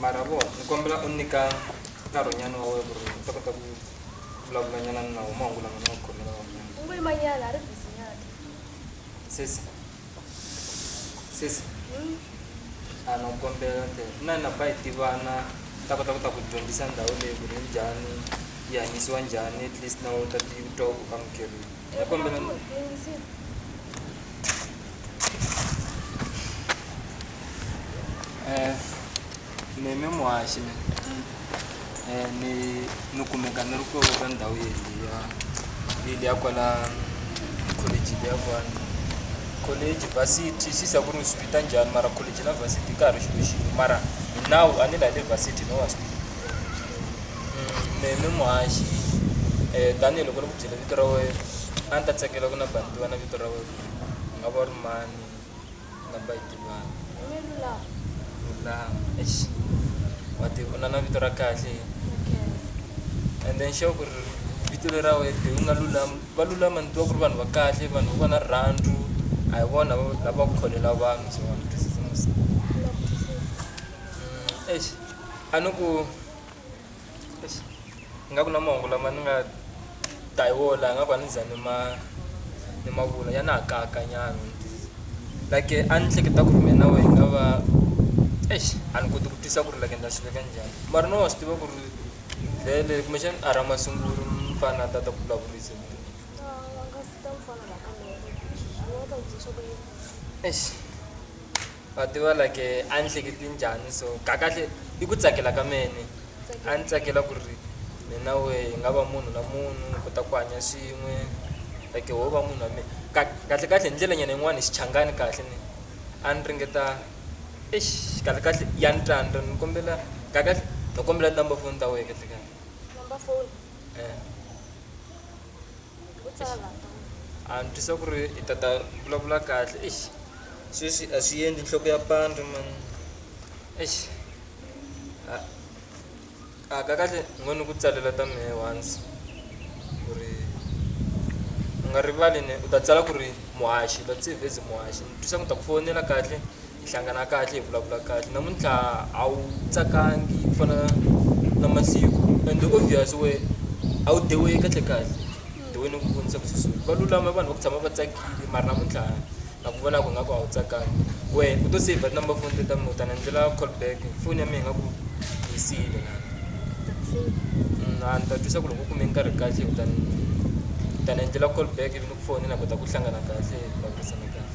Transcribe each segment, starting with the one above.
mara vo ni kombela u nyika nkarhinyana wa wena ku ri u ta kota ku vulavulanyana ni nawu mahungu lama ni nga ku khomela wanyana u ngo yimanyana a ri bizinyana sesi sesi hmm? a na ku kombela te na na ba hi tivana ta kota ku ta ku dyondzisa ndhawu leyi ku ri njhani yi hanyisiwa njhani at least na u ta ti twa ku amukerile neme mwashime ni nukumeka ni ruko ka ndhawu yeli ya yeli ya kwala college ya kwala college varsity sisa ku ri swipita njhani mara college na varsity ka ha ri xilo xin'we mara hi nawu a ni la le varsity no wa swi tiva neme muhaxi um tanihiloko byela vito ra wena a ni ta tsakela ku na bani tiva na vito ra wena u nga va ri mani namba yi tivana lulama ex wa ti u na na vito ra kahle and then xo ku ri vito leri ra wena leyi u nga lulama va lulama ni tiva ku ri vanhu va kahle vanhu va na rirhandzu a hi vona lava ku kholela vanhu so ex a ni ku nga ku na mahungu lama ni nga ta hi wona laha nga ku a ni za ni ma ni ma vula ya na ha kayakanyana like a ni hleketa ku ri mina na wehe hi nga va eish a ni koti ku tisa ku ri like ni ta swi veka njhani mara no wa swi tiva ku ri vhele kumbexani a ra masungulo mfana a ta ta ku vulavurisa eish. wa tiva like a ni hleketi njhani so kakahle i ku tsakela ka mene a ni tsakela ku ri mina we hi nga va munhu na munhu hi kota ku hanya swin'we like ho va munhu wa mina kahle kahle hi ndlela nyana yin'wani hi xichangani kahle ni a ni ringeta eish kahle kahle ya ni tsandza ni kombela kakahle ni kombela number foni ta wehe kahle kahle number foni . a ni twisa ku ri i tata vulavula kahle eish sweswi a swi endli nhloko ya pandza mani eish a a ka kahle ni ngo ni ku tsalela ta mehe once ku ri u nga rivali ni u ta tsala ku ri muhaxi muhaxi ni twisa ku ta ku fowunela kahle. hi hlangana kahle hi vulavula kahle namuntlha a wu tsakangi ku fana na masiku and obvious we a wu dewiwi kahle kahle deweni ku vonisa ku susuka va lulama vanhu va ku tshama va tsakile mara namuntlha na ku vonaka nga ku a wu tsakangi we u to save number phone teta mina u ta ni endlela call back foni ya mina nga ku yi siyile na mm, a ni ta twisa ku loko u kume nkarhi kahle u ta ni ta ni endlela call back ivi ni ku foni na kota ku hlangana kahle hi vulavurisana kahle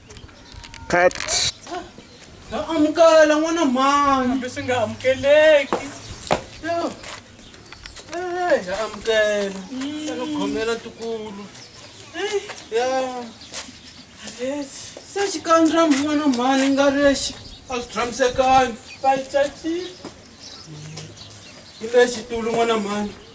Cut. Na amukela n'wana mhani. Kambe swi nga amukeleki. Yo. Eh, ya amukela. Ya no khomela tikulu. Eh, ya. Yes. Se xikandra n'wana mhani nga lexi a swi tshamisekangi. Bayichachile. Hi lexi tulu n'wana mhani.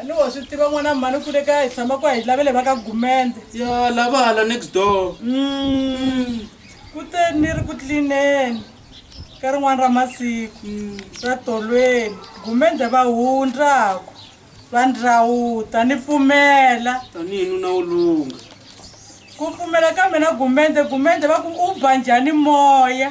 a ni wa swi tiva n'wana mhani u kule kaya hi tshama ku a hi lavele va ka gumende ya lava hala next door Mm. kuteni ni ri ku tlineni ka rin'wana ra masiku ra tolweni gumende va hundraku va ndrawuta ni pfumela tanihi nuna wo lungha ku pfumela ka mina gumende gumende va ku u ba njhani moya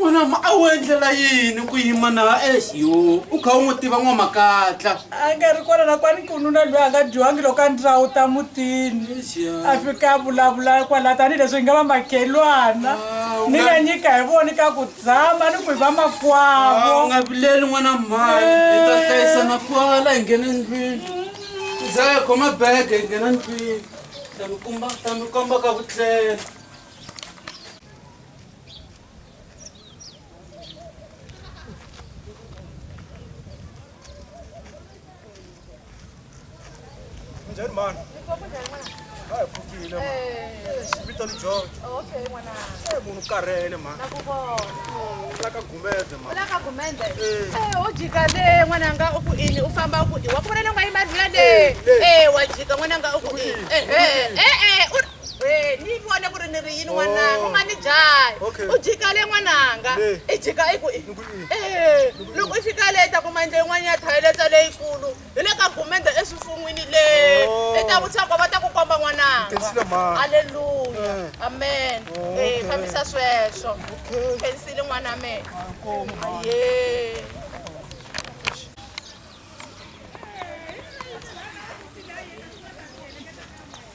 n'wana ma a wu endlela yini ku yima na ex yo u kha u n'wi tiva n'wamakatla a nga ri kona nakwani ku nuna loyi a nga dyiwangi loko a ndlawu ta mutini a fika a vulavula kwala tanihileswi hi nga va makhelwana ni nga nyika hi voni ka ku tshama ni ku hi va makwavo u nga vileli n'wana mhani hi ta hlayisana kwala hi nghene ndlwini ndza ya khoma bege hi nghena ndlwini ta mi komba ta mi komba ka vutlela njhani mani a hi pfukile mani vito ni george e munhu karhele mani la ka gumede mani ujikale n'wananga u ku ini u famba u ku i wa ku vona nonga yi madlula le e wa jika n'wananga u ku ini we ni vone ku ri ni ri yini n'wananga u nga ni dlayi Oh. Okay. u jikale n'wananga Le. i jika i ku i Ni ku i. Eh, loko i fika le i ta kuma ndle yin'wana ya thayiletsa leyikulu hi le ka gumende eswifun'wini le Oh. i ta vutisa ko va ta ku komba n'wananga Khensile mhani. halleluya Eh. amen Oh, Eh, okay. fambisa sweswo Okay. khensile n'wana wa mina Inkomu mhani. ye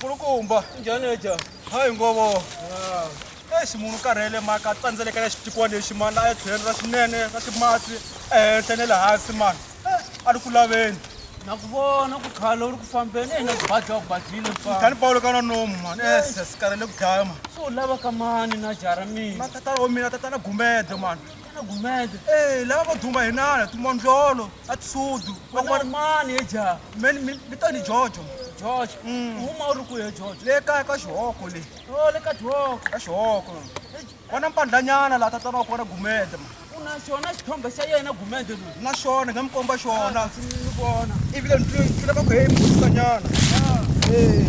kulukumba njhaneja hayi ngovo exi munhu karhele maka tsandzelekelela xipikwa lexi mani la etlhelo ra swinene ra ximatsi ehenhla ne le hansi mani a ri ku laveni na ku vona ku khala u ri ku fambeni eyi na ku badya u badyile mfani pawulo ka na nomu mani ese si karhele ku dlaya mani so u lava ka mani na jaha ra mina na tatana wa mina tatana gumede mani tatana gumede e lava vo duma hi nana tumandlolo atisudu van'wana mani ye ja mi ta ni jojo jojo mm. uma u ri ku ye jojo le kaya ka xihoko le o oh, le ka xihoko ka xihoko vona mpandlanyana laha tatana wa kona gumede ma u na xona xithombe xa yena gumede loyi na xona nga mi komba xona ah, ni vona ivile ni tlula ka ku he mi vutisa nyana ah. ee eh.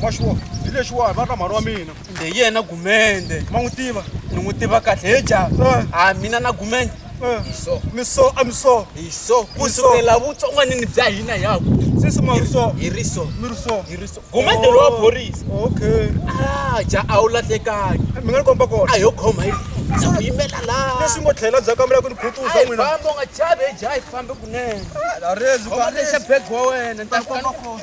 wa xiwo hi lexiwani va ri na mhani wa mina kumbe hi yena gumende ma n'wi tiva ni n'wi tiva kahle he ja Eh. a mina na gumende Eh. hi so mi so a mi so hi so ku so. sukela vutsongwanini bya hina hi ya ku sisi ma ri so hi ri so mi ri so hi ri so gumende lowa phorisa okay a ja a wu lahlekangi mi nga ni komba kona a yo khoma hi ndza ku yimela laha leswi ngo tlhela ndzhaku ka mila ku ni khutuza Ai, n'wina famba u nga chavi hi ja hi fambe kunene a rezi khoma lexa bag wa wena ni ta komba kona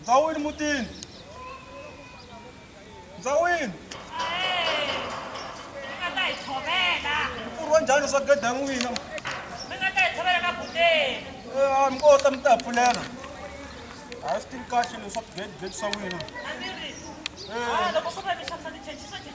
ndzawini mutini ndzawini mpfurwa njhani swa gede ya n'wina a mi kota mi ta pfulela a swi tivi kahle leswaku gede gede swa n'wina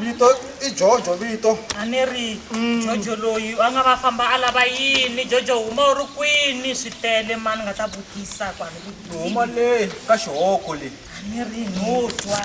vito i jojo vito a ni ri mm. jojo loyi a nga va famba a lava yini jojo huma u ri kwini swi tele ma ni nga ta vutisa kwalihuma le ka xihoko leyi a ni ri no twa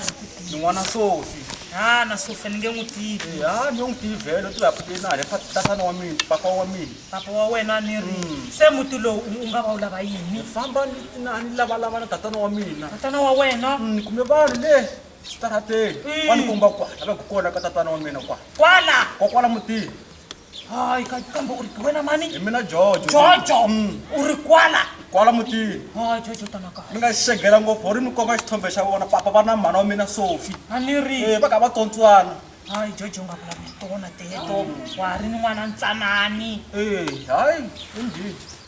ni n'wana sofi ha na sofi ni nge n'wi tivi eh, ha ni n'wi tivi vhelo ti vaputenale tatana wa mina papa wa mina papa wa wena ni ri mm. se muti lowu u nga va u lava yini famba ni lavalavana tatana wa mina tatana wa wena mm, ni kume vanhu le xitarateni Mm. wa ni komba kwala la ku kona ka tatana wa mina kwala kwala ko kwala mutini hayi ka- kambe u ri hi wena mani hi mina jojo jojo Mm. u ri kwala kwala mutini hayi jojo tana kahle mi nga xegela ngopfu ri mi komba xithombe xa vona papa va na mhana wa mina sofi a ni ri Eh, va kha va tsontswana hayi jojo u nga vulavuli tona teto wa ha ri ni n'wana ntsanani Eh, hayi indeed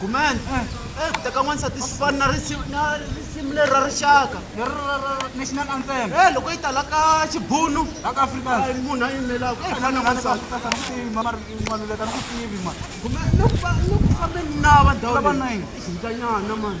gumene eh, ku teka n'wansati swi fani na risimu leri ra rixaka national anthem e loko yi tala ka xibunu laka afrikans munhu a yimelaka e fana n'wansatinokufaneni na vandawolava nayini xikanyana mani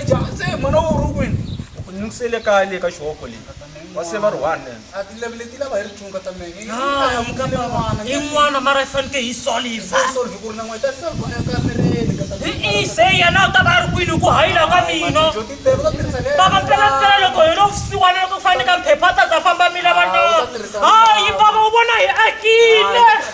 eja se mwana wo ri kwini u ku nyungisele kaya le ka xihoko leyi wa se va ri one in'wana mara yi faneke yi solve ku ri na n'weta solve ekamereni se yena u ta va a ri kwini ku hayila ka mina baba mpelampela loko hi lo vusiwana loko ku fanele ka mphepha a ta za famba mina vanaa hayi baba u vona hi akile